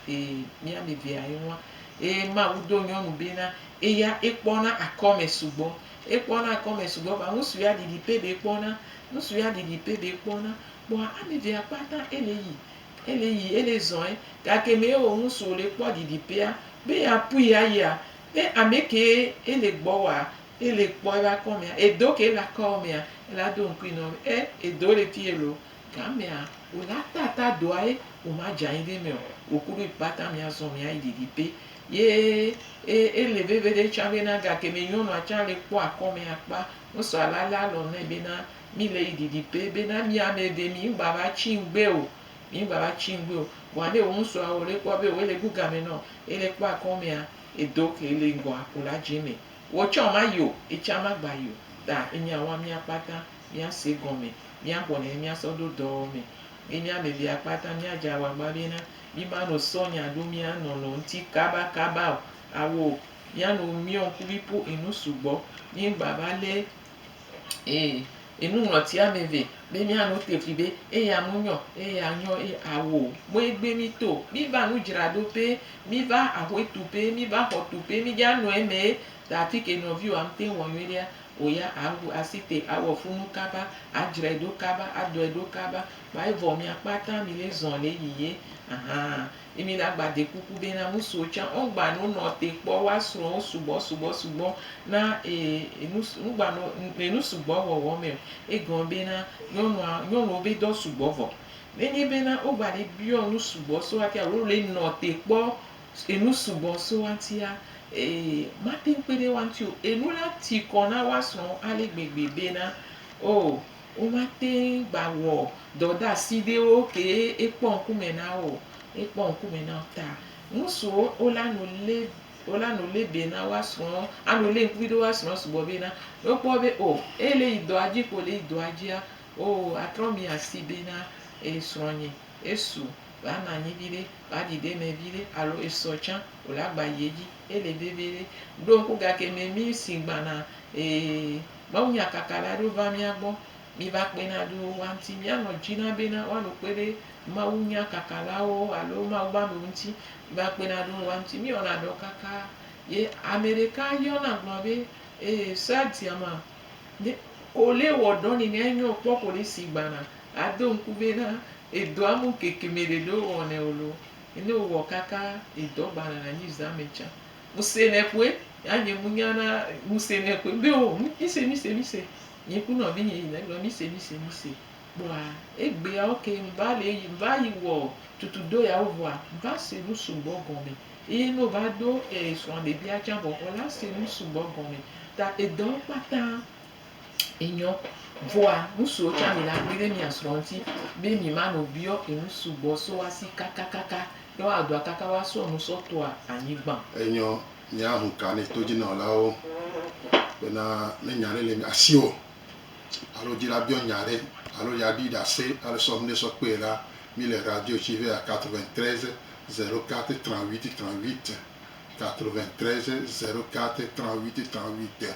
e miamevea eŋua. Eye Mawu do nyɔnu be na eya ekpɔna akɔme sugbɔ. Ekpɔna akɔme sugbɔ vaa ŋu sue aɖiɖi pɛ be kpɔna. Ŋu sue aɖiɖi pɛ be kpɔna. Kpɔa amevea kpata ele yi, ele yi, ele zɔe. Gake me eo ŋu sue wòle kpɔ ɖiɖi pɛa, be ya pui ayia, be amekee ele gbɔwɔa, E li kpɔ ebe akɔ mea, edo ke la kɔ mea, ela do ŋkui nɔ be, e edo le fi elo. Gamea, wo la tata doa ye, wo ma dza yi ɖe meo. Wo kuɖo yi kpata mia zɔn mia yi ɖiɖi pe. Ye e ele veve ɖe tsã be na gake me nyɔnua tsã le kpɔ akɔ me akpa. Wo sɔ ala le alɔ nɛ be na mi le yi ɖiɖi pe be na mi ame eve mi ŋgba va tsi ŋgbe o. Mi ŋgba va tsi ŋgbe o. Vɔa ne wo ŋsua wo le kpɔ be wo le gu game nɔ, ele kpɔ akɔ mea, edo ke le ŋgɔa, wo la dze me. Wò tsɔ ma yo, etsã ma gba yo, ta enya wa mía kpata mía se gɔme, mía xɔ nɛ mía sɔ ɖo dɔ me. Mi mía me via kpata mía dza wa gba be na mi ma no sɔ nya ɖo mía nɔ nɔ ŋti kaba kaba o. Awo mía no miɔ ŋkuvi po enu sugbɔ, mi ŋgba va lé. Ee, enuŋlɔti ame eve be mía nu te fli be eya mu nyɔ, eya nyɔ eye awo mɔe gbe mí to. Mí va nu dzra ɖo pɛ, mí va aƒe tu pɛ, mí va xɔ tu pɛ, mí dza nɔ eme ye ta afi ke nɔviwòa ŋu te wɔ nyuie ɖea, wò ya awu asi te awɔ funu kaba, adzrae ɖo kaba, adɔe ɖo kaba. Kpɔa evɔ mia kpata mi le zɔn le yiyi ye ahan. Ye mi na gba de kuku be na ŋusuwo tsã wo ŋgba no nɔ te kpɔ woa srɔwo sugbɔ sugbɔ sugbɔ na e enu su ŋgba no le nu sugbɔ wɔwɔ me o. Egɔme be na nyɔnua nyɔnuwo be dɔ sugbɔ vɔ. Ne nye be na wo gba ɖe biɔ nu sugbɔ so ŋuti alo le nɔ te kpɔ enu sugbɔ so ŋutia e mateŋ kpe ɖe woa ŋuti o. Enu la ti kɔ na woa srɔwo ale gbegbe be na o. Womate ŋu gba wɔ dɔdeasi ɖewo ke ekpɔ ŋkume na wo o. Ekpɔ ŋkume na wo ta ŋusuwo wola nu lé wola nu lé be na woasrɔ̃ anu lé ŋkuvi ɖe woasrɔ̃ sugbɔ be na wokpɔ be o eye le yi dɔa dzi ko le yi dɔa dzia o atrɔ miasi be na e srɔ̃nye esu woanɔ anyi viɖe woaɖi ɖe eme viɖe alo esɔ tsã o la gba yi edzi ele vevi ɖe ɖo ŋku gake memi si gbana e Mawunyakakala aɖewo va mía gbɔ. Miva kpe na ɖo woa ŋuti. Míanɔ dzi na bena woanɔ kpe ɖe mawunyakakalawo alo Mawu ƒe amewo ŋuti. Miva kpe na ɖo woa ŋuti. Míewɔna dɔ kaka ye ame ɖeka yɔ nam gblɔ be, Ee, sea dia ma, ne kole wɔ dɔ nɛ nɛ nyo kpɔ kole si gbana. Ado ŋku bena edɔa mu ŋkeke me ɖeɖe wowɔnɛ o loo. Ne wowɔ kaka edɔ gbana na anyi zã me tsã. Ŋusẽ nɛ ƒue, ya nye mu nya na ŋusẽ nɛ ƒue be o mise mise mise nye ku nɔ vinye yi ne gblɔ mise mise mise kpɔa egbea oke ŋva le yi ŋva yi wɔ tutu do ya wo vɔa ŋva se nu sugbɔ gɔme eye no va do e srɔ̃ɖebia tsã vɔ xɔ la se nu sugbɔ gɔme ta edɔ kpata enyɔ. Vɔa, ŋsuwo tsã mi la kpli ɖe mia srɔ ŋti be mi ma no biɔ enu sugbɔ so wa si kakakaka. Ɖe wa dɔa kaka wa sɔ nu sɔ toa anyigban. Enyɔ, mia hu ka ne todjinɔlawo bena ne nya ɖe le mia si ɔ, alo dji la biɔ nya ɖe alo ɖe aɖi ɖase ale sɔ ŋɖe sɔ kpɔɛ la, mi le radio tsi vea 93 04 38 38, 93 04 38 38.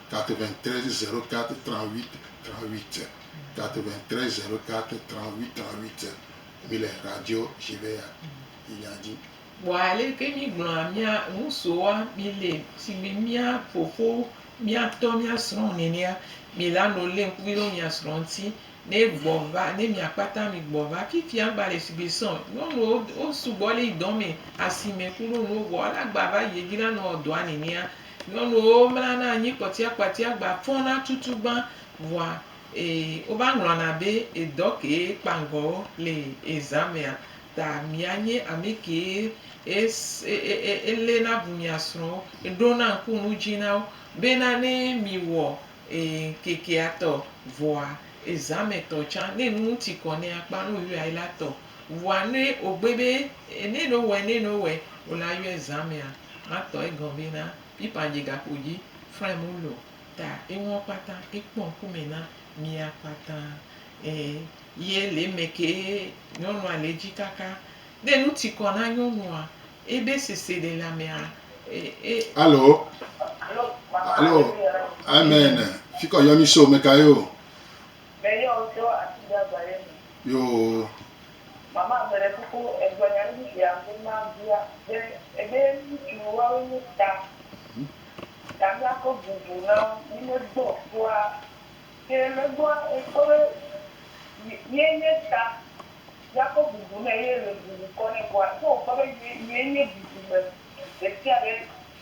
93 04 38 38 93 04 38 38 mi le radio Shiveya yinya dzi. Kpɔ aleke mígblɔa mía ŋusoa mi le si mi mía fofo, mía tɔ, mía srɔ̃ nenea, mi la no le ŋkuvi ɖo mia srɔ̃ ŋuti ne gbɔ va ne mia kpata mi gbɔ va fifia gba le si mi srɔ̃ nyɔnuwo wo sugbɔ le dɔ me asime kuɖo nuwo vɔ la gba va yi edzi la nɔ dɔa nenea. Nyɔnuwo mlana anyi kpɔtiakpatia gba fɔna tutu gbã vɔa e wova ŋlɔna be edɔ kee kpa ŋgɔ wo le e zamea ta mia nye ami kee e e e le na bu mia srɔwo e ɖo na ŋku nu dzi na wo be na ne mi wɔ e ŋkekea tɔ vɔa e zame tɔ tsã ne nu ŋti kɔ ne a kpa nu yɔe la tɔ vɔa ne ogbe be e ne no wɛ ne no wɛ o la yɔe zamea. Ma tɔ egɔn be na Pipa dje gakpo dji fraim wu lo ta eŋuɔ kpata ekpɔ ŋkumɛ na mia kpata ee ye le eme kee nyɔnua le edji kaka ne nu tikɔ na nyɔnua ebe seselelame a e. Alo alo amen fikɔ yɔmi so mekaye o. Meyɔ wò tso atigbagba ɖe me. Yoo. Mama meɖe kuku egblɔ nya ɖe fifia hafi mabia be ebe ŋutsu woawoe nye ta ta miakɔ bubu na wo mi me gbɔ kpɔa ke me gbɔa ekpɔ be ye nye ta miakɔ bubu nɛ ye le bubu kɔ nɛ kpɔa ke wokpɔ be ye ye nye bubu me ɖesiaɖe.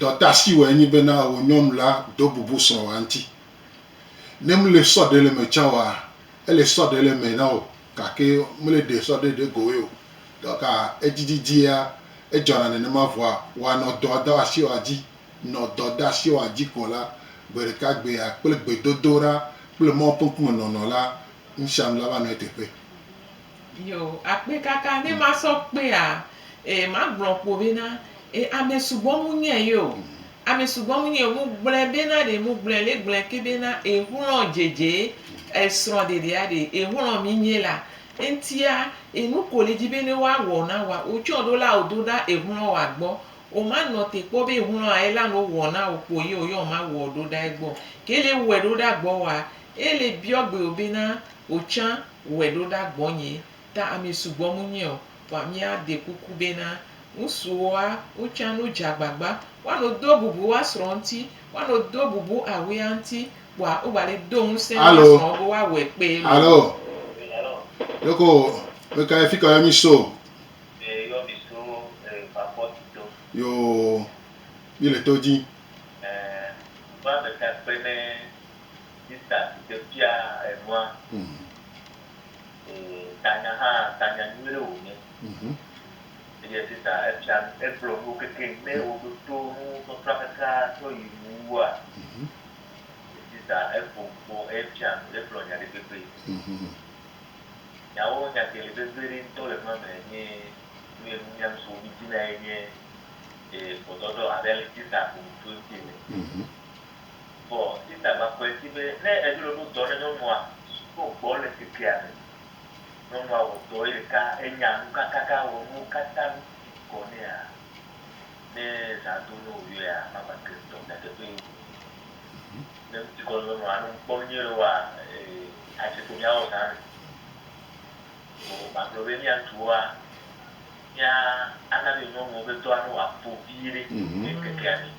Dɔtasi wɔe nyi bena wò nyɔnu la do bubu srɔ̃wòa ŋuti. Ne mle sɔ ɖe le eme tsã oa, ele sɔ ɖe le eme na wò gake mle ɖe sɔ ɖe ɖe goe o. Gake edzidzidzia edzɔna nenema vɔa, wòanɔ dɔdasiwɔa dzi. Nɔ dɔdasiwɔa dzi ko la, gbeɖekagbea kple gbedodoɖa kple Mawu ƒe ŋkume nɔnɔ la, nusianu la va nɔ eteƒe. Yo akpe kaka ne ma sɔ kpea e ma gblɔ kpo be na e ame sugbɔ mu nye yo ame sugbɔ mu nye mu gblɔ be na ɖe mu gblɔ le gblɔ ke be na e xlɔ dzedze e srɔ ɖeɖe a ɖe e xlɔ mi nye la eŋtia e nu ko le dzi be ne wa wɔ na wa o tsɔ ɖo la o do ɖa e xlɔ wa gbɔ o ma nɔ te kpɔ be xlɔ a ela no wɔ na o kpo ye o yɔ ma wɔ ɖo ɖa egbɔ ke le wɔ ɖo ɖa gbɔ wa e le biɔ gbe o be na o tsa Wɔe ɖo ɖa gbɔnye, ta ami sugbɔ mu nyɛ o, vɔa mi a de kuku be na ŋsu wo a wo tsa no dza agbagba wa no do bubu wa srɔ ŋti, wa no do bubu a we a ŋti, kpɔa wo gba le do ŋusɛn wa Alo, srɔ wo be wa wɔe kpee lo. alo, ɖeko me ka ye fika yɔ mi so? E yɔ mi so e Bapɔti to. Yo, mi le to dji. E, ŋku ame ka kpe ne. Sista si ke fia enua e tanya hã tanya nyuie ɖe wo nye eye sista efia egblɔ nuwo keke ne wo ɖo to nu sɔsɔa keke tsɔ yi nu wua sista eƒo nu kpɔ efia nu egblɔ nya ɖe kpekpe nyawo nya ke le vevie ɖe ŋutɔ le nua me nye nu ye nu nyam so mi dzi na ye nye e gbɔdɔdɔ abe ale sista ƒo nu tso eŋti ene. Vɔ Sista va kpɔe si be ne edzo le ɖo dɔ ne nyɔnua ɖo gbɔ le kekea me. Nyɔnua wɔ dɔ ye ɖeka enya nu kakaka wɔ nuwo kata nu si gɔ nɛa? Ne zã do ne woyɔea mama ke ŋutɔ nyateƒee wonye. Ne ŋuti kɔ nyɔnua ne ŋkpɔ nu nyuie wɔa ee adze ƒo mia wɔ zã me. Vɔ ma gblɔ be mia ŋutsuwoa mia ana be nyɔnuwo ƒe dɔa ne wa vo viɖe le kekea me.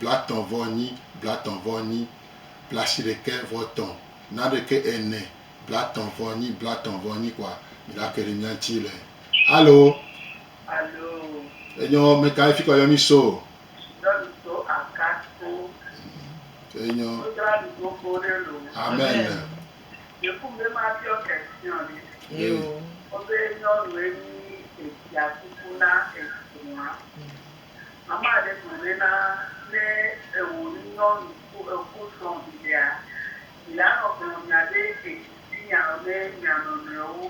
blatɔ̃ vɔ nyi, blatɔ̃ vɔ nyi, blashiɖekɛ vɔ tɔ̃, naɖekɛ ɛnɛ, blatɔ̃ vɔ nyi, blatɔ̃ vɔ nyi kɔa, mi ɖa ke ɖe mia ŋtsi le. Alo! Alo! Enyɔ mɛka ye fikɔ yɔ mi so? Nyɔnu so Akatso. Enyɔ. Wo dzra mi gbogbo ɖe lo. Amɛn. Ye kum be ma biɔ question ɖe. Eo. Wo be nyɔnu ye nyi efia kuku na esrɔa. Mama ɖe gblɔnɛ na ne ewò nyɔnu ko eko srɔ̃ viɖea, vilanɔ gblɔ nya ɖe edzi si nya ne mia nɔnɔewo.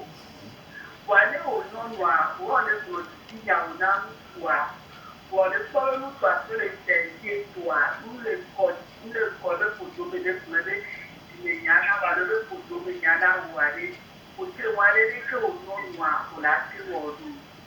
Vɔa ne wò nyɔnua wɔ ɖe gblɔ didi nyawo na ŋutsua, vɔ ɖe kpɔ be ŋutsua to ɖe ŋutsua dzi etoa nu le ŋkɔ dzi le ŋkɔ ɖe ƒodo me ɖe gblɔe be dzime nya na va ɖo ɖe ƒodo me nya na wò aɖe, wò te ŋu aɖe ɖe ke wò nyɔnua wòle ate wɔ ɖo.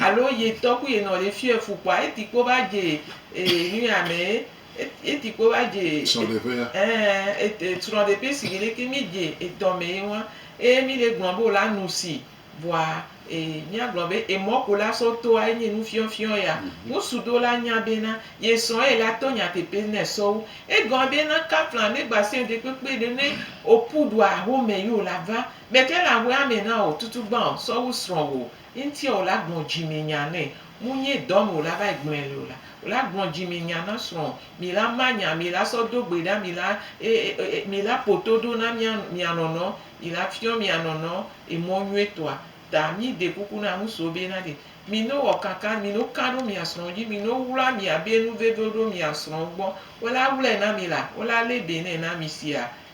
Alo ye tɔ ku ye nɔ ye fiɔ efu kpoa eti kpo va dje ee nuya mɛ eti kpo va dje srɔɖeƒea ee srɔɖeƒe sigi leke mi dje etɔ mɛ ye ŋua eye mi le gblɔ be wola nusi vɔa ee mia gblɔ be emɔ ko la sɔ toa enye nu fiɔ fiɔ ya ŋusu ɖewo la nya be na ye srɔ ye la to nyateƒe nɛ sɔwu egɔme be na kafla me gba sɛo ɖe kpekpe ɖe ne opu ɖua home yi wola va mɛke le ahuɛa mɛ nao tutu gbao sɔwu srɔwo Ŋtie wòla gblɔ dzimi nya nɛ. Munye dɔm wòla va yi gblɔɛ le o la, wòla gblɔ dzimi nya na srɔ̃ o. Mila ma nya, mila sɔ do gbe ɖa, mila e, e, e, e, mila ƒo to ɖo na mía, mia nɔnɔ, mila fiɔ mia nɔnɔ emɔ nyuitɔa ta. Mi de kuku na nu so be na ɖe. Mino wɔ kankan, mino kan ɖo mia srɔ̃ dzi, mino wlua mia be nu veve ɖo mia srɔ̃ gbɔ. Wòla wlɔɛ na mi la, wòla lé be nɛ na mi sia.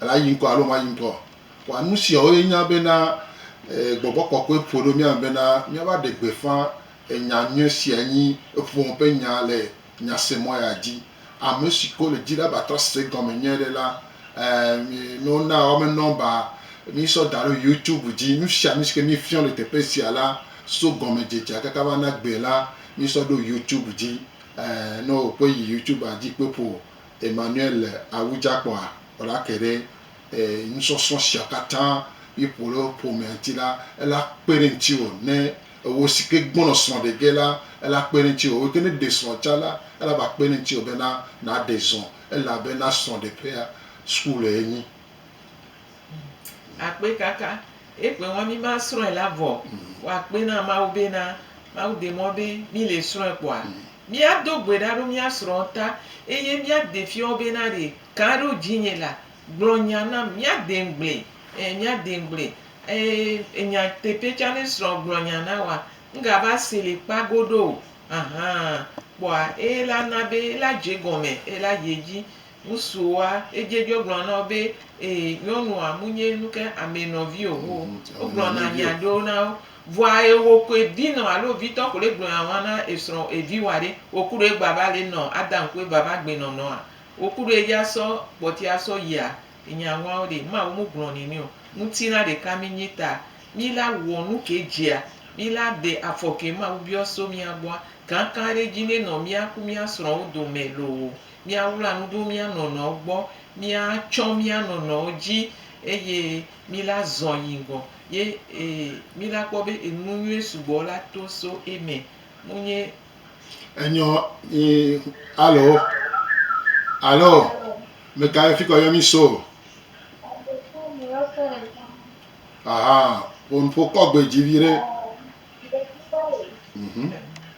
Ele ayi ŋkɔ alo mayi ŋkɔ? Kpɔa nu siawo ye nye bena gbɔgbɔ kɔkɔe ƒo ɖo mía me bena míava ɖe gbeƒã nya nyui sia nyi eƒome ƒe nya le nyasemɔ ya dzi. Ame siwo le di la va trɔ se egɔme nyuie ɖe la, ne wona woame nɔmba mísɔ da ɖe YouTube dzi. Nu sia nu si ke míefiɔ le teƒe sia la so gɔmedzedzea kaka va na gbee la, mísɔ ɖo YouTube dzi. Ne wò kpɔe yi YouTube dzi kpɔe ƒo Emmanuel le awu dza kpɔa ɔla ke ɖe e nusɔsrɔ̃ sia katã mi ƒo ɖe ƒomea ŋti la ela kpe ɖe ŋtiwɔ ne ewɔ si ke gbɔnɔ srɔ̃ ɖe ge la ela kpe ɖe ŋtiwɔ wɔ ke ne ɖe srɔ̃ tsa la ela va kpe ɖe ŋtiwɔ be na na ɖe zɔ̃ ela be na srɔ̃ ɖe ƒea school enyi. Akpe kaka ekpe ŋua mi ma srɔe la vɔ wa akpe na mawu be na mawu de mɔ be mi le srɔe kpɔa mi a do gbe ɖa ɖo mi a srɔ ta eye mi a de fiɔ be na ɖe kan ɖo dzi nye la gblɔ nya nam mi a de ŋgble e mi a de ŋgble e nya teƒe tsa ne srɔ gblɔ nya na wa ŋga va se le kpa goɖo ahan kpɔa ela na be ela dze gɔme ela yi edzi Ŋusuoa edze dzo gblɔ na wo be, Ee, nyɔnua, munye nu ke amɛ nɔvi o. Wo, wogblɔna nya ɖewo na wo. Vɔa ewo ko evi nɔ alo evitɔ ko ɖe gblɔna ŋua na esrɔ̃ eviwa ɖe. Wo kuɖo egba va le nɔ Adam ku Eva va gbe nɔnɔa? Wo kuɖo edzi asɔ kpɔti asɔ yia? Enya ŋua wo ɖe? Mawu mu gblɔ nɛnɛ o. Ŋutilã ɖeka mi nyi ta mi la wɔ nu ke dzea mi la de afɔ ke Mawu biɔ so mia gbɔa? Kankan ɖe dzi nɛ nɔ mia ku mia srɔ̃wo domɛ loo. míawla nu ɖo mía nɔnɔwo gbɔ, míatsɔ mía nɔnɔwo dzi eye míla zɔ̃ yi ŋgɔ ye míla kpɔ be enu nyui sugbɔ la to so eme. Nunye. Enyɔ nyi alo alo meka ye fikɔ yɔ mi so aha ƒokɔ gbe dzi viɖe.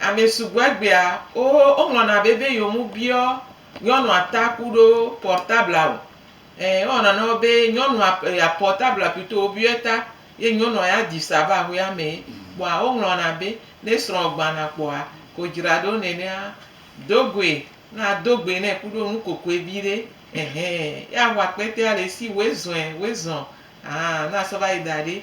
Ame sugbɔ egbea wo woŋlɔna bebe yewo mu biɔ nyɔnua ta ku ɖo pɔrtabla o. Ɛ wo wɔna nɔ be nyɔnua ya pɔrtabla pito wo biɔɛ ta ye nyɔnua ya ɖi sa va aƒea me ye. Kpɔa wo ŋlɔna be ne srɔ̃ gbana kpɔa ko dzra ɖo nenea do goe na do gbe nɛ ku ɖo nukokoe vi ɖe ehe ye aho akpɛtɛa le esi woe zɔɛ woe zɔn aa na sɔ va yi da ɖe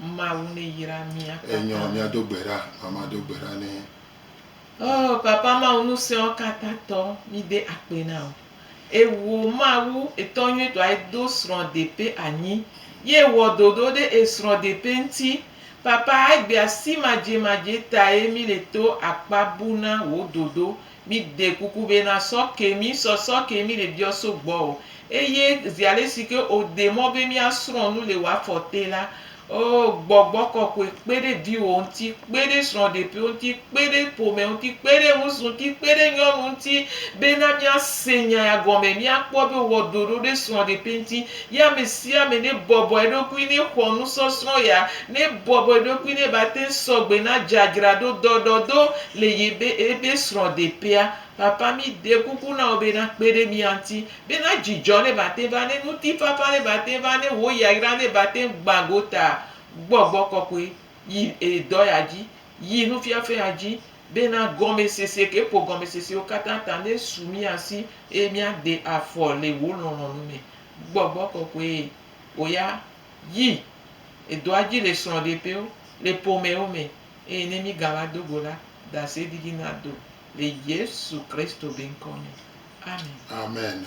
Mawu ne yra mia katã. Enyɔ mia do gbe ɖa mama do gbe ɖa ne. Oh papa mawu nuseɔ kata tɔ mi de akpe na o ewo mawu etɔ nyuie tɔ ayi do srɔ depe anyi ye ewɔ dodo ɖe esrɔ depe ŋti papa ayi gbe asi madje madje taye mi le to akpa bu na wo dodo. Mi de kuku be na sɔ ke mi sɔ sɔ ke mi le biɔ so gbɔ o. Eye zi ale si ke o de mɔ be mía srɔ̃ nu le wa fɔ te la, oh, Gbɔgbɔ Kɔkɔe kpe ɖe viwò ŋuti, kpe ɖe srɔ̃ɖepiwo ŋuti, kpe ɖe ƒome ŋuti, kpe ɖe ŋusu ŋuti, kpe ɖe nyɔnu ŋuti, be na mía se nya ya gɔme, mía kpɔ be o wɔ ɖoɖo ɖe srɔ̃ɖepe ŋuti. Ye amesiame nebɔbɔ eɖokui nexɔ nusɔsrɔ̃ ya, nebɔbɔ eɖokui ne bate sɔgbe na dzadzraɖo dɔɖɔdo le yebe ebe srɔ̃deƒea. Papa mi de kuku na wò be na kpe ɖe mía ŋti be na dzidzɔ ne bate va ne ŋutifafa ne bate va ne wò yayra ne bate gbã gota gbɔgbɔ kɔkɔe yi edɔya dzi yi nufiafea dzi Bena gɔmesese ke ƒo gɔmesesewo katã ta nesu mía si, eye míade afɔ le wò lɔlɔ̃nu me. Gbɔgbɔ kɔkɔe, wò ya, yi, edoa dzi le srɔ̃ɖeƒewo, le ƒomewo me, eye ne mígava do go la, ɖase didi nado, le Yesu Kristo be ŋkɔ me. Amen. Amen.